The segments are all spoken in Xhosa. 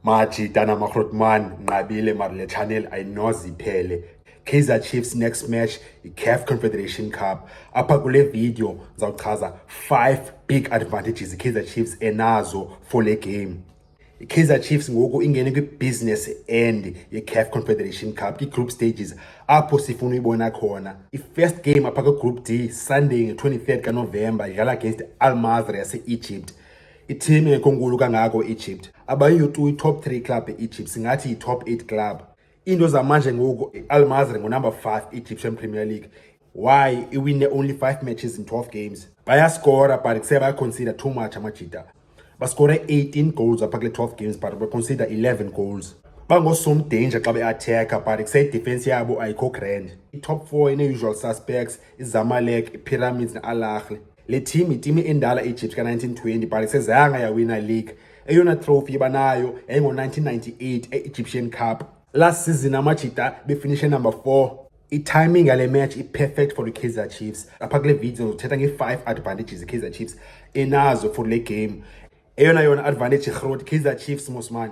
Mathi Tana Makrotman, Nqabile Marle Channel ayinoze iphele. Kaizer Chiefs next match i-CAF Confederation Cup. Apha kule video ndizawuchaza 5 big advantages i-Kaizer Chiefs enazo for le game. I-Kaizer Chiefs ngoku ingene kwi-business end ye-CAF Confederation Cup, kwi-group stages apho sifuna uyibona khona. I-first game apha kwi-group D Sunday nge-23 kaNovemba idlala against Al Masry yase-Egypt. Iteam engekho nkulu kangako e-Egypt. Abayiyo tu i-top 3 club e-Egypt, singathi yi-top 8 club. Iinto zamanje ngoku i-Al Masry ngunumber 5 Egyptian Premier League. Why iwine only 5 matches in 12 games? Bayaskora but kuse bayaconsider too much amajita. Baskore 18 goals apha kule 12 games but baconsider 11 goals. bangosomdanger xa beatheka but kuseyidefensi yabo ayikho grand i-top four ine-usual suspects izamalek ipyramids ne-alahle le team yitimi endala egypt ka-1920 but isezayanga yawina league eyona trophy banayo yayingo-1998 e-egyptian cup last season amajita befinishe number 4 itiming yale match i-perfect for i-kaizer chiefs apha kule video ndithetha nge-five advantages i-kaizer chiefs enazo for le game eyona yona advantage irhoti kaizer chiefs mosman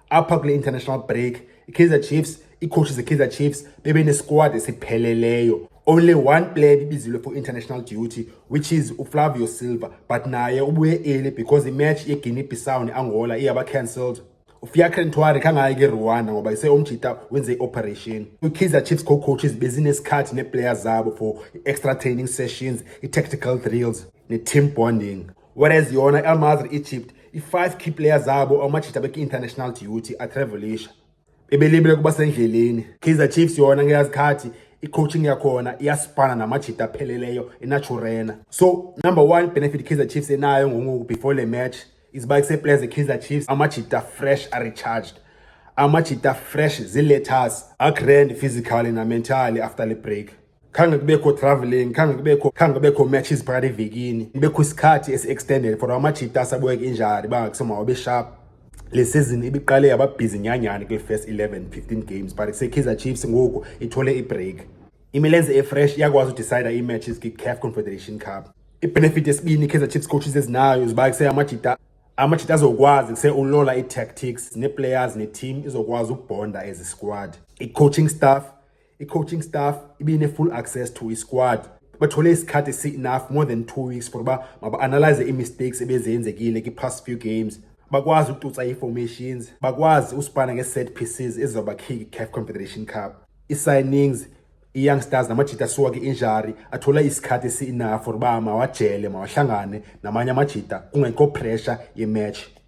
apha kule international break i-kaizer chiefs iikhoshi ze-kaizer chiefs bebenesquad esipheleleyo only one player ebibizilwe for international duty which is uflavio silver but naye ubuye eli because imatch yeguinea bissau neangola iyaba cancelled ufiakre ntwari khangayi ke rwanda ngoba ise omjita wenze i-operation kwi-kaizer chiefs co-coaches bezinesikhathi neeplayer zabo for i-extra training sessions i-tactical drills ne-team bonding whereas yona i-almazri egypt i-five key player zabo amajita beki-international duty atravelisha bebelibele kuba sendleleni kaizer chiefs yona ngeyazikhathi i-coaching yakhona iyasifana namajita apheleleyo enaturena so number one benefit kaizer chiefs enayo ngongoku before le match iziba kuseplayers zekaizer chiefs amajita fresh arecharged amajita fresh ziletters agrand physically namentally after le break khange kubekho traveling khange kubekho khange kubekho matches phakathi evikini kubekho isikhathi esi-extended for amajita asabuye injari bangakusoma wabe sharp le sizini ibiqale yababhizi nyanyani kwi-first 11 15 games but sekhiza chiefs ngoku ithole ibreak imilenze efresh iyakwazi udecida ii-matches kwi-caf confederation cup ibenefit yesibini ikaizer chiefs coaches ezinayo ziba kuse amajita amajita azokwazi kuse ulola ii-tactics nee-players ne-team izokwazi ukubhonda as a squad i-coaching staff i-coaching staff ibine-full access to i-squad bathole isikhathi esi-enough more than two weeks for uba maba-analyze ii-mistakes ebezenzekile kwi-past few games bakwazi ukutuca ii-formations bakwazi usipana nge-set pieces ezizawubakhiki i-caf confederation cup ii-signings i-young stars namajita asuka kwi-injury athola isikhathi esi-enough for uba mawajele mawahlangane namanye amajita kungekho pressure yematch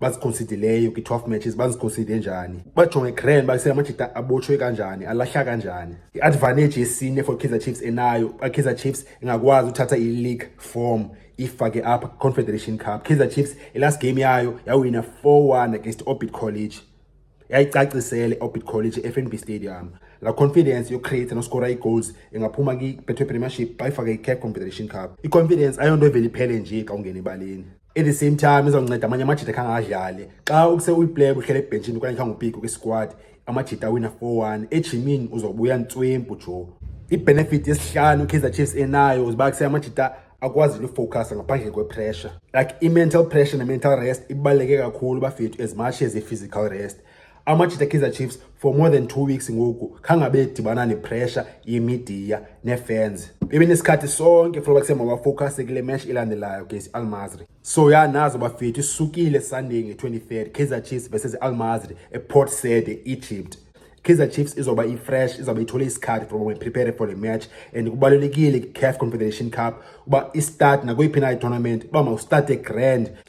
baziconsideleyo kwi-12 matches baziconside njani bajonge grand base amajita abotshwe kanjani alahla kanjani i-advantage yesine for kaizer chiefs enayo akaizer chiefs ingakwazi uthatha i-league form ifake apha confederation cup kaizer chiefs ilast game yayo yawina 4-1 against orbit college yayicacisele orbit college efnb stadium la confidence yocreate noskora ii-goals ingaphuma kwi-betway premiership xa ifake i-cap confederation cup i-confidence ayonto evele iphele nje xa ungena ebaleni at the same time izawunceda amanye amajita khange adlale xa ukuse uyiplaya uhlele ebhentshini okanye khange upike kwisquad amajita awina 4-1 ejimini uzobuya ntswempu jo ibenefit yesihlanu ukaizer chiefs enayo uziba kuse amajita akwazi lufocus ngaphandle kwepressure like i-mental pressure ne-mental rest ibaluleke kakhulu bafethu as much as i-physical rest amajita ekaizer chiefs for more than two weeks ngoku khangabe edibana nepressure yemidiya neefans bebenesikhathi sonke funa uba kusemabafowukhase kule mesh ilandelayo gesi almazri so ya nazo bafethu isukile sunday nge-23 kaizer chiefs versus almazri eport said eegypt Kaizer Chiefs izoba i-fresh izoba ithole isikhathi from when prepare for the match and kubalulekile i-CAF Confederation Cup uba i-start nakuyiphi na i-tournament uba mawustarte grand